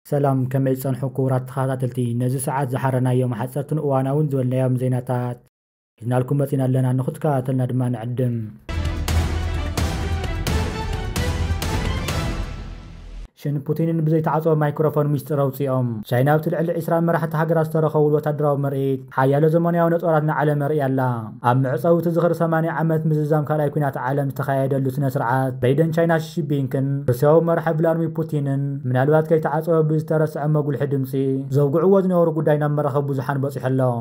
ሰላም ከመይ ዝጸንሑ ክቡራት ተኸታተልቲ ነዚ ሰዓት ዝሓረናዮም ሓጸርትን እዋናውን ዝበልናዮም ዜናታት ሒዝናልኩም መጺና ኣለና ንኽትከታተልና ድማ ንዕድም። ሽን ፑቲንን ብዘይተዓጽወ ማይክሮፎን ሚስጢር ኣውጺኦም ቻይና ኣብቲ ልዕሊ ዒስራ መራሕቲ ሃገራት ዝተረኸብሉ ወታደራዊ ምርኢት ሓያሎ ዘመናዊ ነጦራት ንዓለም ኣርእያ ኣላ። ኣብ መዕጸዊ እቲ ዝኽሪ ሰማንያ ዓመት ምዝዛም ካልኣይ ኲናት ዓለም ዝተኻየደሉ ስነ ስርዓት ፕሬዚደንት ቻይና ሺ ጂንፒንግን ሩስያዊ መራሒ ቭላድሚር ፑቲንን ምናልባት ከይተዓጸወ ብዝተረስዐ መጉልሒ ድምጺ ዘውግዕዎ ዝነበሩ ጉዳይ ናብ መራኸቢ ብዙሓን በጺሑ ኣሎ።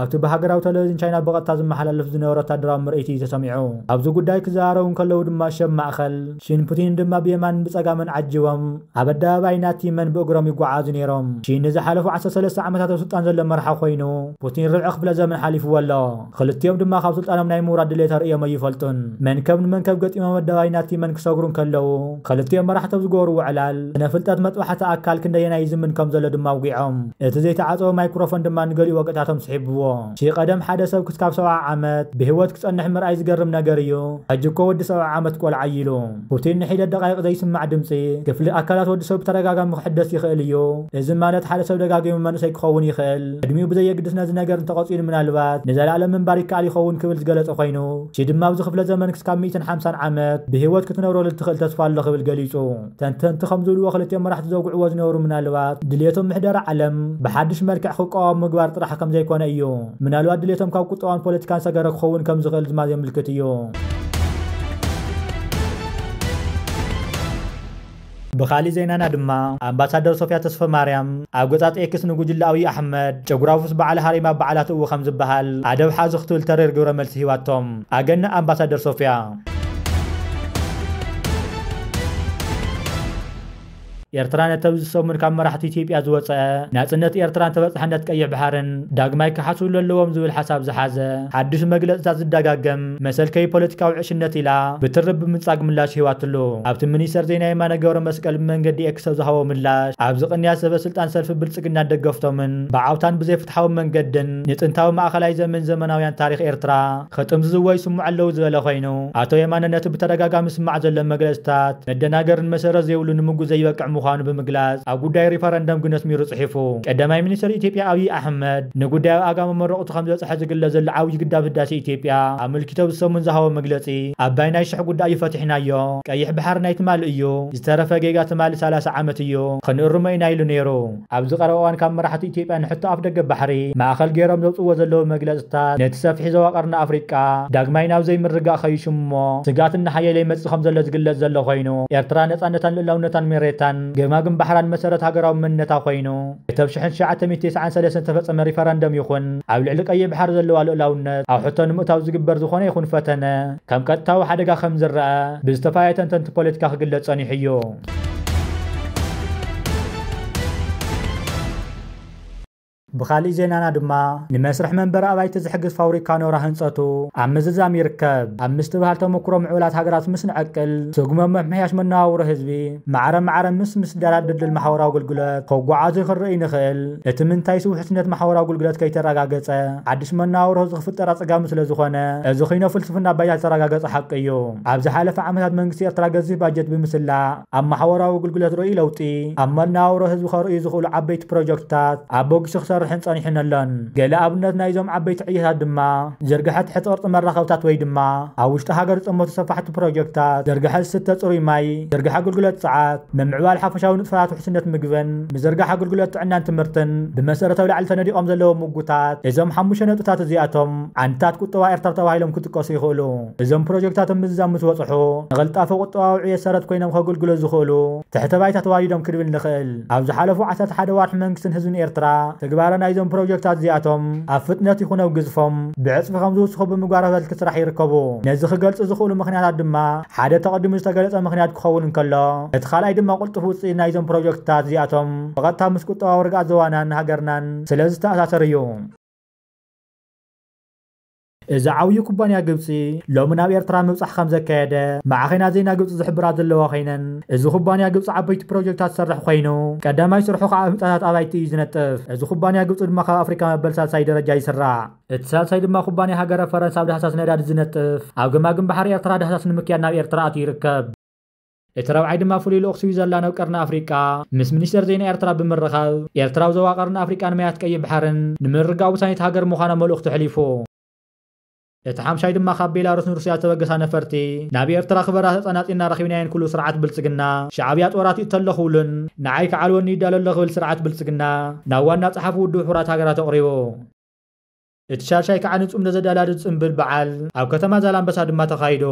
ኣብቲ ብሃገራዊ ተለቪዝን ቻይና ብቐጥታ ዝመሓላለፍ ዝነበረ ወታደራዊ ምርኢት እዩ ተሰሚዑ። ኣብዚ ጉዳይ ክዘራረቡ እንከለዉ ድማ ሸብ ማእከል ሺን ፑቲን ድማ ብየማንን ብጸጋምን ዓጂቦም ኣብ ኣደባባይ ናንቲመን ብእግሮም ይጓዓዙ ነይሮም። ሺ ንዝሓለፉ ዓሰርተ ሰለስተ ዓመታት ኣብ ስልጣን ዘሎ መራሒ ኮይኑ፣ ፑቲን ርብዒ ክፍለ ዘመን ሓሊፍዎ ኣሎ። ክልቲኦም ድማ ካብ ስልጣኖም ናይ ምውራድ ድሌት ኣርእዮም ኣይፈልጡን። መንከብ ንመንከብ ገጢሞም ኣደባባይ ናንቲመን ክሰግሩ እንከለዉ፣ ኽልቲኦም መራሕቲ ኣብ ዝገበርዎ ዕላል፣ ስነ ፍልጠት መጥባሕቲ ኣካል ክንደየናይ ይዝምን ከም ዘሎ ድማ ኣውጊዖም። እቲ ዘይተዓጸወ ማይክሮፎን ድማ ንገሊኡ ወግዕታቶም ስሒብዎ። ሺ ቀደም ሓደ ሰብ ክስካብ ሰብዓ ዓመት ብህይወት ክጸንሕ ምርኣይ ዝገርም ነገር እዩ፣ ሕጂ እኮ ወዲ ሰብዓ ዓመት ቆልዓ እዩ ኢሉ። ፑቲን ንሒደት ደቓይቕ ዘይስማዕ ድምጺ፣ ክፍሊ ኣካላት ወዲ ሰብ ብተደጋጋሚ ክሕደስ ይኽእል እዩ። እዚ ማለት ሓደ ሰብ ደጋጊሙ መንእሰይ ክኸውን ይኽእል፣ ዕድሚኡ ብዘየግድስ ነዚ ነገር እንተቐጺሉ ምናልባት ንዘለኣለም ምንባር ይከኣል ይኸውን ክብል ዝገለጸ ኮይኑ፣ ቺ ድማ ኣብዚ ክፍለ ዘመን ክስካብ ሚእትን ሓምሳን ዓመት ብህይወት ክትነብረሉ እትኽእል ተስፋ ኣሎ ክብል ገሊጹ። ተንተንቲ ከም ዝብልዎ ክልቲኦም መራሕቲ ዘውግዕዎ ዝነበሩ ምናልባት ድልየቶም ምሕደራ ዓለም ብሓድሽ መልክዕ ክቋወም ምግባር ጥራሕ ከም ዘይኮነ እዩ። ምናልባት ድልየቶም ካብ ቁጠባን ፖለቲካን ሰገረ ክኸውን ከም ዝኽእል ድማ ዜምልክት እዩ። ብኻሊእ ዜናና ድማ ኣምባሳደር ሶፍያ ተስፈማርያም ኣብ ገጻ ኤክስ ንጉጅለ ኣብይ ኣሕመድ ጨጉራፉስ በዓል ሃሪማ በዓላ ትእዊ ከም ዝበሃል ኣደብ ሓዙ ክትብል ተሪር ግብረ መልሲ ሂባቶም። ኣገናዕ ኣምባሳደር ሶፍያ! ኤርትራ ነቲ ኣብዚ ሰሙን ካብ መራሕቲ ኢትዮጵያ ዝወጸ ናጽነት ኤርትራን ተበጻሕነት ቀይሕ ባሕርን ዳግማይ ክሓስብሉ ኣለዎም ዝብል ሓሳብ ዝሓዘ ሓድሽ መግለጽታት ዝደጋገም መሰልከይ ፖለቲካዊ ዕሽነት ኢላ ብትሪ ብምንጻግ ምላሽ ሂባትሉ። ኣብቲ ምኒስተር ዜና የማነ ገብረመስቀል ብመንገዲ ኤክስ ኣብ ዝሃቦ ምላሽ፣ ኣብዚ ቅንያት ሰበስልጣን ሰልፊ ብልጽግናን ደገፍቶምን ብዓውታን ብዘይፍትሓዊ መንገድን ንጥንታዊ ማእከላይ ዘመን ዘመናውያን ታሪኽ ኤርትራ ክጥምዝዝዎ ይስምዑ ኣለዉ ዝበለ ኮይኑ፣ ኣቶ የማነ ነቲ ብተደጋጋሚ ዝስማዕ ዘሎ መግለጽታት መደናገርን መሰረት ዘይብሉ ንምጉት ዘይበቅዕ ምዃኑ ብምግላጽ ኣብ ጉዳይ ሪፈረንደም ግን ኣስሚሩ ጽሒፉ። ቀዳማይ ሚኒስተር ኢትዮጵያ ኣብይ ኣሕመድ ንጉዳይ ኣብ ኣጋ መመረቕቱ፣ እቲ ከምዘፀሐ ዝግለፅ ዘሎ ዓብዪ ግዳብ ህዳሴ ኢትዮጵያ ኣመልኪቶ ኣብዚ ሰሙን ዝሃቦ መግለፂ ኣባይ ናይ ሽሕ ጉዳይ እዩ ፈቲሕናዮ፣ ቀይሕ ባሕሪ ናይ ትማሊ እዩ፣ ዝተረፈ ጌጋ ትማሊ ሰላሳ ዓመት እዩ፣ ክንእርሞ ኢና ኢሉ ነይሩ። ኣብዚ ቀረባ እዋን ካብ መራሕቲ ኢትዮጵያ ንሕቶ ኣፍደገ ባሕሪ ማእኸል ገይሮም ዘውፅእዎ ዘለዉ መግለፅታት ነቲ ሰፊሕ ዞባ ቀርኒ ኣፍሪቃ ዳግማይ ናብ ዘይምርግጋእ ከይሽሙ እሞ ስግኣት እናሓየለ ይመፅእ ከምዘሎ ዝግለፅ ዘሎ ኮይኑ ኤርትራ ነፃነታን ልእላውነታን ሜሬታን ገማግም ባሕራን መሰረት ሃገራዊ መንነታ ኮይኑ እቲ ኣብ ሽሕን ትሽዓተ ሚእቲ ተስዓን ሰለስትን ዝተፈጸመ ሪፈረንደም ይኹን ኣብ ልዕሊ ቀይሕ ባሕሪ ዘለዋ ልኡላውነት ኣብ ሕቶ ንምእታው ዝግበር ዝኾነ ይኹን ፈተነ ከም ቀጥታዊ ሓደጋ ከም ዝረኣ ብዝተፈላለዩ ተንተንቲ ፖለቲካ ክግለጽ ጸኒሑ እዩ። ብኻሊእ ዜናና ድማ ንመስርሕ መንበሪ ኣባይቲ ዝሕግዝ ፋውሪካ ኖራ ህንጸቱ ኣብ ምዝዛም ይርከብ ኣብ ምስትብሃል ተመኩሮ ምዕቡላት ሃገራት ምስ ንዕቅል ስጉመ ምምሕያሽ መነባብሮ ህዝቢ ማዕረ ማዕረ ምስ ምስዳድ ድልድል ማሕበራዊ ኣገልግሎት ከጓዓዙ ክንርእይ ንኽእል። እቲ ምንታይስ ውሕስነት ማሕበራዊ ኣገልግሎት ከይተረጋገጸ ሓድሽ መነባብሮ ህዝቢ ክፍጠር ኣጸጋሚ ስለ ዝኾነ። እዚ ኺኖ ፍልስፍና ባይታ ዝተረጋገጸ ሓቂ እዩ። ኣብ ዝሓለፈ ዓመታት መንግስቲ ኤርትራ ገዚፍ ባጀት ብምስላዕ ኣብ ማሕበራዊ ኣገልግሎት ርኡይ ለውጢ ኣብ መነባብሮ ህዝቢ ከርእዩ ዝኽእሉ ዓበይቲ ፕሮጀክትታት ኣበጊሱ ክሰርሕን ጸኒሑን ኣሎን። ገለ ኣብነት ናይዞም ዓበይቲ ዕዮታት ድማ። ዝርግሐ ትሕቲ ቅርጺ መራኸብታት ወይ ድማ ኣብ ውሽጢ ሃገር ዝጥመቱ ሰፋሕቲ ፕሮጀክታት፣ ዝርግሐ ዝስተ ጽሩይ ማይ፣ ዝርግሐ ኣገልግሎት ጽዓት፣ ምምዕባል ሓፈሻዊ ንጥፈታት ውሕስነት ምግብን ምዝርጋሕ ኣገልግሎት ጥዕናን ትምህርትን ብመሰረት ኣብ ላዕሊ ተነዲቖም ዘለዉ ምጉታት እዞም ሓሙሽተ ነጥብታት እዚኣቶም ዓንድታት ቁጠባ ኤርትራ ተባሂሎም ክጥቀሱ ይኽእሉ። እዞም ፕሮጀክታት ኣብ ምዝዛም ምስ በጽሑ ንቕልጣፈ ቁጠባዊ ዕብየት ሰረት ኮይኖም ከገልግሉ ዝኽእሉ ትሕተ ባይታ ተዋዲዶም ክንብል ንኽእል። ኣብ ዝሓለፉ ዓሰርተ ሓደ ኣዋርሕ መንግስትን ህዝብን ኤርትራ ትግባረ ናይዞም ፕሮጀክታት እዚኣቶም ኣብ ፍጥነት ይኹን ኣብ ግዝፎም ብዕጽፊ ከም ዝውስኹ ብምግባር ኣበልኪ ስራሕ ይርከቡ። ነዚ ክገልጹ ዝኽእሉ ምኽንያታት ድማ ሓደ ተቐዲሙ ዝተገለጸ ምኽንያት ክኸውን እንከሎ እቲ ካልኣይ ድማ ቁልጡፍ ውጽኢት ናይዞም ፕሮጀክትታት እዚኣቶም ብቐጥታ ምስ ቁጠባዊ ርግኣት ዞባናን ሃገርናን ስለ ዝተኣሳሰር እዩ። እዚ ዓብዩ ኩባንያ ግብጺ ሎሚ ናብ ኤርትራ ምብጻሕ ከም ዘካየደ ማዕኸናት ዜና ግብጺ ዝሕብራ ዘለዋ ኮይነን እዚ ኩባንያ ግብጺ ዓበይቲ ፕሮጀክታት ዝሰርሕ ኮይኑ ቀዳማይ ስርሑ ከዓ ኣብ ህንጻታት ኣባይቲ እዩ ዝነጥፍ። እዚ ኩባንያ ግብጺ ድማ ካብ ኣፍሪካ መበል ሳልሳይ ደረጃ ይስራዕ። እቲ ሳልሳይ ድማ ኩባንያ ሃገረ ፈረንሳ ኣብ ዳህሳስ ነዳዲ ዝነጥፍ ኣብ ገማግም ባሕሪ ኤርትራ ዳህሳስ ንምክያድ ናብ ኤርትራ ኣትዩ ይርከብ። እቲ ረብዓይ ድማ ፍሉይ ልኡኽ ስዊዘርላንድ ኣብ ቀርኒ ኣፍሪቃ ምስ ሚኒስተር ዜና ኤርትራ ብምርኻብ ኤርትራ ኣብ ዞባ ቀርኒ ኣፍሪቃን ማያት ቀይሕ ባሕርን ንምርግጋእ ወሳኒት ሃገር ምዃና መልእኽቱ ኣሕሊፉ። እቲ ሓምሻይ ድማ ካብ ቤላሩስን ሩስያ ዝተበገሳ ነፈርቲ ናብ ኤርትራ ክበራ ተጸናጺና ረኺብናየን ክብሉ ስርዓት ብልጽግና ሻዕብያ ጦር ኣትዩ እተሎ ክብሉን ንዓይ ክዓልወኒ ይዳሎ ኣሎ ክብል ስርዓት ብልጽግና ናብ ዋና ጸሓፊ ውድብ ሕቡራት ሃገራት ኣቕሪቡ። እቲ ሻድሻይ ከኣ ንጽምዶ ዘደላድል ጽምብል በዓል ኣብ ከተማ ዛላምበሳ ድማ ተኻይዱ።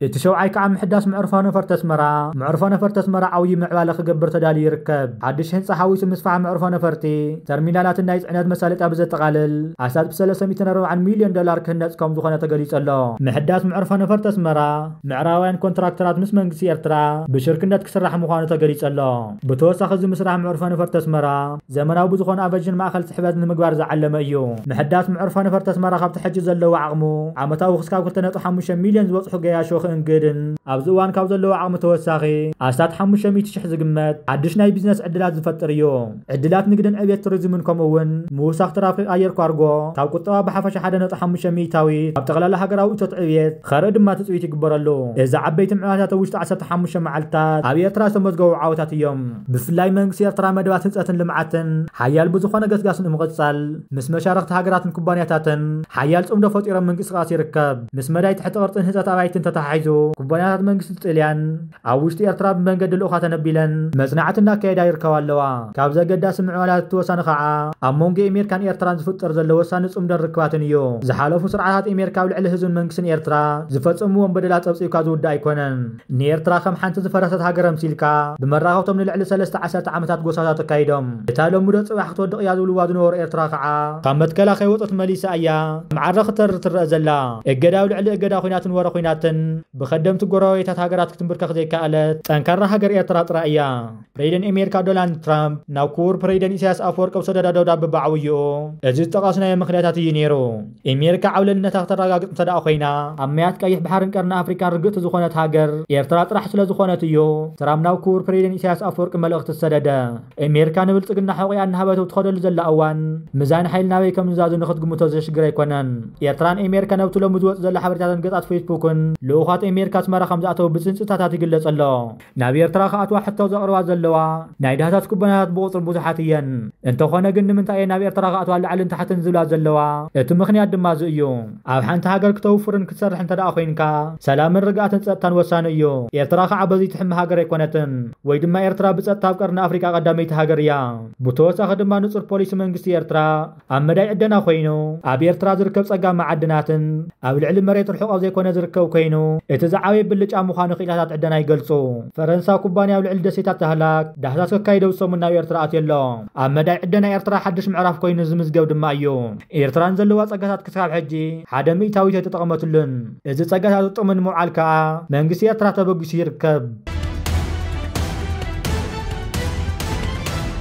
እቲ ሸውዓይ ከኣ ምሕዳስ መዕርፎ ነፈርቲ ኣስመራ፣ መዕርፎ ነፈርቲ ኣስመራ ዓውዪ ምዕባለ ክገብር ተዳልዩ ይርከብ። ሓድሽ ህንጻ ሓዊሱ ምስፋሕ መዕርፎ ነፈርቲ፣ ተርሚናላትን ናይ ጽዕነት መሳለጥያ ብዘጠቓልል ኣስታት ብ ሰለስተ ሚእትን ኣርባዓን ሚልዮን ዶላር ክህነጽ ከም ዝኾነ ተገሊጹ ኣሎ። ምሕዳስ መዕርፎ ነፈርቲ ኣስመራ፣ ምዕራባውያን ኮንትራክተራት ምስ መንግስቲ ኤርትራ ብሽርክነት ክስራሕ ምዃኑ ተገሊጹ ኣሎ። ብተወሳኺ እዚ ምስራሕ መዕርፎ ነፈርቲ ኣስመራ፣ ዘመናዊ ብዝኾነ ኣቨዥን ማእኸል ፅሕፈት ንምግባር ዝዓለመ እዩ። ምሕዳስ ምዕርፎ ነፈርቲ ኣስመራ ካብቲ ሕጂ ዘለዎ ዓቕሙ ዓመታዊ ክስካብ ክልተ ነጥቢ ሓሙሽተ ሚልዮን ዝበፅሑ ገያሾ ክእንግድን ኣብዚ እዋን ካብ ዘለዎ ዓቕሚ ተወሳኺ ኣስታት ሓሙሽተ ሚእቲ ሽሕ ዝግመት ሓዱሽ ናይ ቢዝነስ ዕድላት ዝፈጥር እዩ። ዕድላት ንግድን ዕብየት ቱሪዝምን ከምኡ እውን ምውሳኽ ትራፊክ ኣየር ኳርጎ ካብ ቁጠባ ብሓፈሻ ሓደ ነጥቢ ሓሙሽተ ሚኢታዊት ኣብ ጠቕላላ ሃገራዊ እቶት ዕብየት ኸርኢ ድማ ትፅቢት ይግበረሉ። እዚ ዓበይቲ ምዕባለታት ኣብ ውሽጢ ዓሰርተ ሓሙሽተ መዓልትታት ኣብ ኤርትራ ዝተመዝገቡ ዓወታት እዮም። ብፍላይ መንግስቲ ኤርትራ መደባት ህንፀትን ልምዓትን ሓያል ብዝኾነ ገስጋስ ንምቕፃል ምስ መሻርኽቲ ሃገራትን ኩባንያታትን ሓያል ፅምዶ ፈጢሮም ምንቅስቓስ ይርከብ። ምስ መዳይ ትሕቲ ቅርፅን ህንፀት ኣባይትን ተተሓሒዙ ኩባንያታት መንግስቲ ጥልያን ኣብ ውሽጢ ኤርትራ ብመንገዲ ልኡኻት ኣነቢለን መፅናዕቲ እናካየዳ ይርከባ ኣለዋ። ካብዚ ኣገዳሲ ምዕባለታት እቲ ወሳኒ ከዓ ኣብ መንጎ ኤሜርካን ኤርትራን ዝፍጠር ዘሎ ወሳኒ ፅምዶን ርክባትን እዩ። ዝሓለፉ ስርዓታት ኤሜርካ ኣብ ልዕሊ ህዝብን መንግስትን ኤርትራ ዝፈፀምዎም በደላት ፀብፂብካ ዝውዳእ ኣይኮነን። ንኤርትራ ከም ሓንቲ ዝፈረሰት ሃገር ኣምሲልካ፣ ብመራኸብቶም ንልዕሊ ሰለስተ ዓሰርተ ዓመታት ጎሳታት ኣካይዶም። እታ ሎሚዶ ጽባሕ ክትወድቕ እያ ዝብልዋ ዝነበሩ ኤርትራ ከኣ፣ ካብ መትከላ ከይወጸት መሊሳ እያ ከም ዓረ ክትተርር ትረኣ ዘላ። እገዳ ኣብ ልዕሊ እገዳ ኩናትን ወረ ኩናትን ብከደምቲ ጎረባቤታት ሃገራት ክትምብርከኽ ዘይከኣለት ጠንካራ ሃገር ኤርትራ ጥራይ እያ። ፕሬደን ኣሜሪካ ዶናልድ ትራምፕ ናብ ክቡር ፕሬደን ኢሳያስ ኣፈወርቂ ኣብ ሰደዳ ደብዳብ ብዓውይኡ እዚ ዝጠቐስናዮ ምክንያታት እዩ ነይሩ። ኣሜሪካ ዓብለልነታ ክተረጋግጽ እንተደኣ ኮይና ኣብ ማያት ቀይሕ ባሕርን ቀርኒ ኣፍሪካን ርግእቲ ዝኾነት ሃገር ኤርትራ ጥራሕ ስለዝኾነት እዩ ትራምፕ ናብ ክቡር ፕሬደን ኢሳያስ ኣፈወርቂ መልእኽቲ ዝሰደደ። ኣሜሪካ ንብልጽግና ሑቂኣ እናሃበት ኣብ ትኸደሉ ዘላ እዋን ምዛን ሓይሊ ናበይ ከምዝዛዙ ንክትግምቶ ዘሽግር ኣይኮነን። ኤርትራን ኣሜሪካ ነብቲ ሎሚ ዝወጽእ ዘሎ ሓበሬታትን ገጻት ፌስቡክን ልኡኻት ኣሜሪካ ኣስመራ ከምዝኣተው ብጽንጽታታት ይግለጽ ኣሎ። ናብ ኤርትራ ክኣትዋ ሕቶ ዘቕርባ ዘለዋ ናይ ዳህሳስ ኩባንያታት ብቑጽሪ ብዙሓት እየን። እንተኾነ ግን ንምንታይ እየን ናብ ኤርትራ ክኣትዋ ላዕልን ታሕትን ዝብላ ዘለዋ? እቲ ምኽንያት ድማ እዚ እዩ። ኣብ ሓንቲ ሃገር ክተውፍርን ክትሰርሕ እንተደኣ ኮይንካ ሰላምን ርግኣትን ጸጥታን ወሳኒ እዩ። ኤርትራ ከኣ በዚ ትሕመ ሃገር ኣይኮነትን። ወይ ድማ ኤርትራ ብጸጥታ ኣብ ቀርኒ ኣፍሪቃ ቀዳመይቲ ሃገር እያ። ብተወሳኺ ድማ ንጹር ፖሊሲ መንግስቲ ኤርትራ፣ ኣብ መዳይ ዕደና ኮይኑ፣ ኣብ ኤርትራ ዝርከብ ጸጋ መዓድናትን ኣብ ልዕሊ መሬት ርሑቕ ኣብ ዘይኮነ ዝርከብ ኮይኑ፣ እቲ ዝዓበየ ብልጫ ምዃኑ ክኢላታት ዕደና ይገልጹ። ፈረንሳዊ ኩባንያ ኣብ ልዕሊ ደሴታት ዳህላክ ዳህሳስ ከካይድ ኣብዚ ሰሙን ናብ ኤርትራ ኣትዩ ኣሎ። ኣብ መዳይ ዕደና ኤርትራ ሓድሽ ምዕራፍ ኮይኑ ዝምዝገብ ድማ እዩ። ኤርትራ ንዘለዋ ጸጋታት ክሳብ ሕጂ ሓደ ሚእታዊት ኣይተጠቐመትሉን። እዚ ጸጋታት ጥቕሚ ንምውዓል ከኣ መንግስቲ ኤርትራ ተበጊሱ ይርከብ።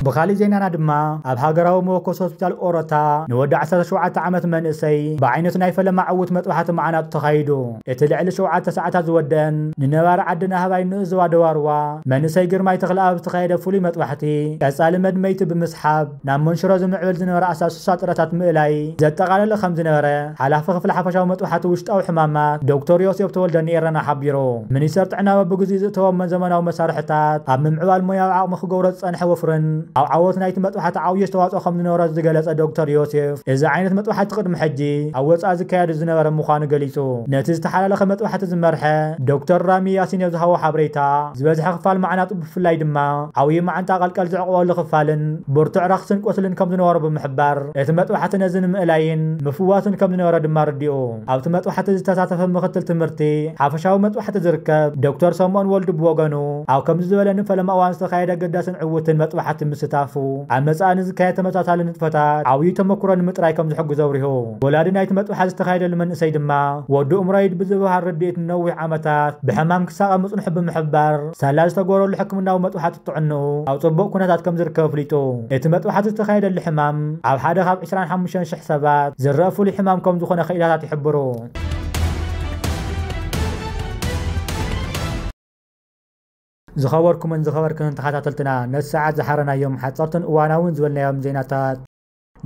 ብኻሊእ ዜናና ድማ ኣብ ሃገራዊ መወከሲ ሆስፒታል ኦሮታ ንወዲ ዓሰርተ ሸውዓተ ዓመት መንእሰይ ብዓይነቱ ናይ ፈለማ ዕዉት መጥባሕቲ መዓናጡ ተኻይዱ። እቲ ልዕሊ ሸውዓተ ሰዓታት ዝወደእን ንነባሪ ዓዲ ናህባይ ንኡስ ዞባ ደዋርዋ መንእሰይ ግርማይ ተኽለኣብ ዝተኻየደ ፍሉይ መጥባሕቲ ቀጻሊ መድመይቲ ብምስሓብ፣ ናብ መንሽሮ ዝምዕብል ዝነበረ ኣሳሱሳ ጥረታት ምእላይ ዘጠቓለለ ከም ዝነበረ ሓላፊ ክፍሊ ሓፈሻዊ መጥባሕቲ ውሽጣዊ ሕማማት ዶክተር ዮሴፍ ተወልደ ንኤረና ሓቢሩ። ሚኒስተር ጥዕና በብግዚኡ ዝእተዎም ዘመናዊ መሳርሕታት ኣብ ምምዕባል ሞያዊ ዓቕሚ ክገብሮ ዝጸንሐ ወፍርን ኣብ ዓወት ናይቲ መጥባሕቲ ዓብዩ ኣስተዋጽኦ ከም ዝነበሮ ዝገለጸ ዶክተር ዮሴፍ እዚ ዓይነት መጥባሕቲ ቅድሚ ሕጂ ኣብ ወጻኢ ዝካየድ ዝነበረ ምዃኑ ገሊጹ። ነቲ ዝተሓላለኸ መጥባሕቲ ዝመርሐ ዶክተር ራሚ ያሲን ኣብ ዝሃቦ ሓበሬታ ዝበዝሐ ክፋል ማዕናጡ ብፍላይ ድማ ዓብዩ መዓንጣ ቀልቀል ዝዕቕበሉ ክፋልን ብርቱዕ ረኽስን ቁስልን ከም ዝነበሮ ብምሕባር፣ እቲ መጥባሕቲ ነዚ ንምእላይን ምፍዋስን ከም ዝነበረ ድማ ኣረዲኡ። ኣብቲ መጥባሕቲ ዝተሳተፈ ምኽትል ትምህርቲ ሓፈሻዊ መጥባሕቲ ዝርከብ ዶክተር ሰምኦን ወልዱ ብወገኑ፣ ኣብ ከምዚ ዝበለ ንፈለማ እዋን ዝተኻየደ ኣገዳስን ዕዉትን መጥባሕቲ ምስታፉ፣ ኣብ መጻኢ ንዝካየድ ተመሳሳሊ ንጥፈታት ዓብዩ ተመኩሮ ንምጥራይ ከም ዝሕግዞ ኣብሪሁ። ወላዲ ናይቲ መጥባሕቲ ዝተኻየደሉ መንእሰይ ድማ፣ ወዱ እምሮይድ ብዝብሃል ርድኢት ንነዊሕ ዓመታት ብሕማም ክሳቐ ምጽንሑ ብምሕባር፣ ሳላ ዝተገበረሉ ሕክምናዊ መጥባሕቲ ጥዕንኡ ኣብ ጽቡቕ ኩነታት ከምዝርከብ ኣፍሊጡ። እቲ መጥባሕቲ ዝተኻየደሉ ሕማም ኣብ ሓደ ካብ ዕስራን ሓሙሽተን ሽሕ ሰባት ዝረኣ ፍሉይ ሕማም ከምዝኾነ ክኢላታት ይሕብሩ። ዝኸበርኩምን ዝኸበርክንን ተኻታተልትና ነቲ ሰዓት ዝሓረናዮም ሓጸርትን እዋናውን ዝበልናዮም ዜናታት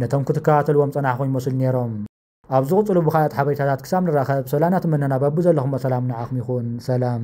ነቶም ክትከታተልዎም ዝጸናሕኹም ይመስሉ ኔሮም። ኣብ ዝቕጽሉ ብኻልኣት ሓበሬታታት ክሳብ ንራኸብ ሰላና ትምነና በብዘለኹሞ ሰላም ንዓኹም ይኹን ሰላም።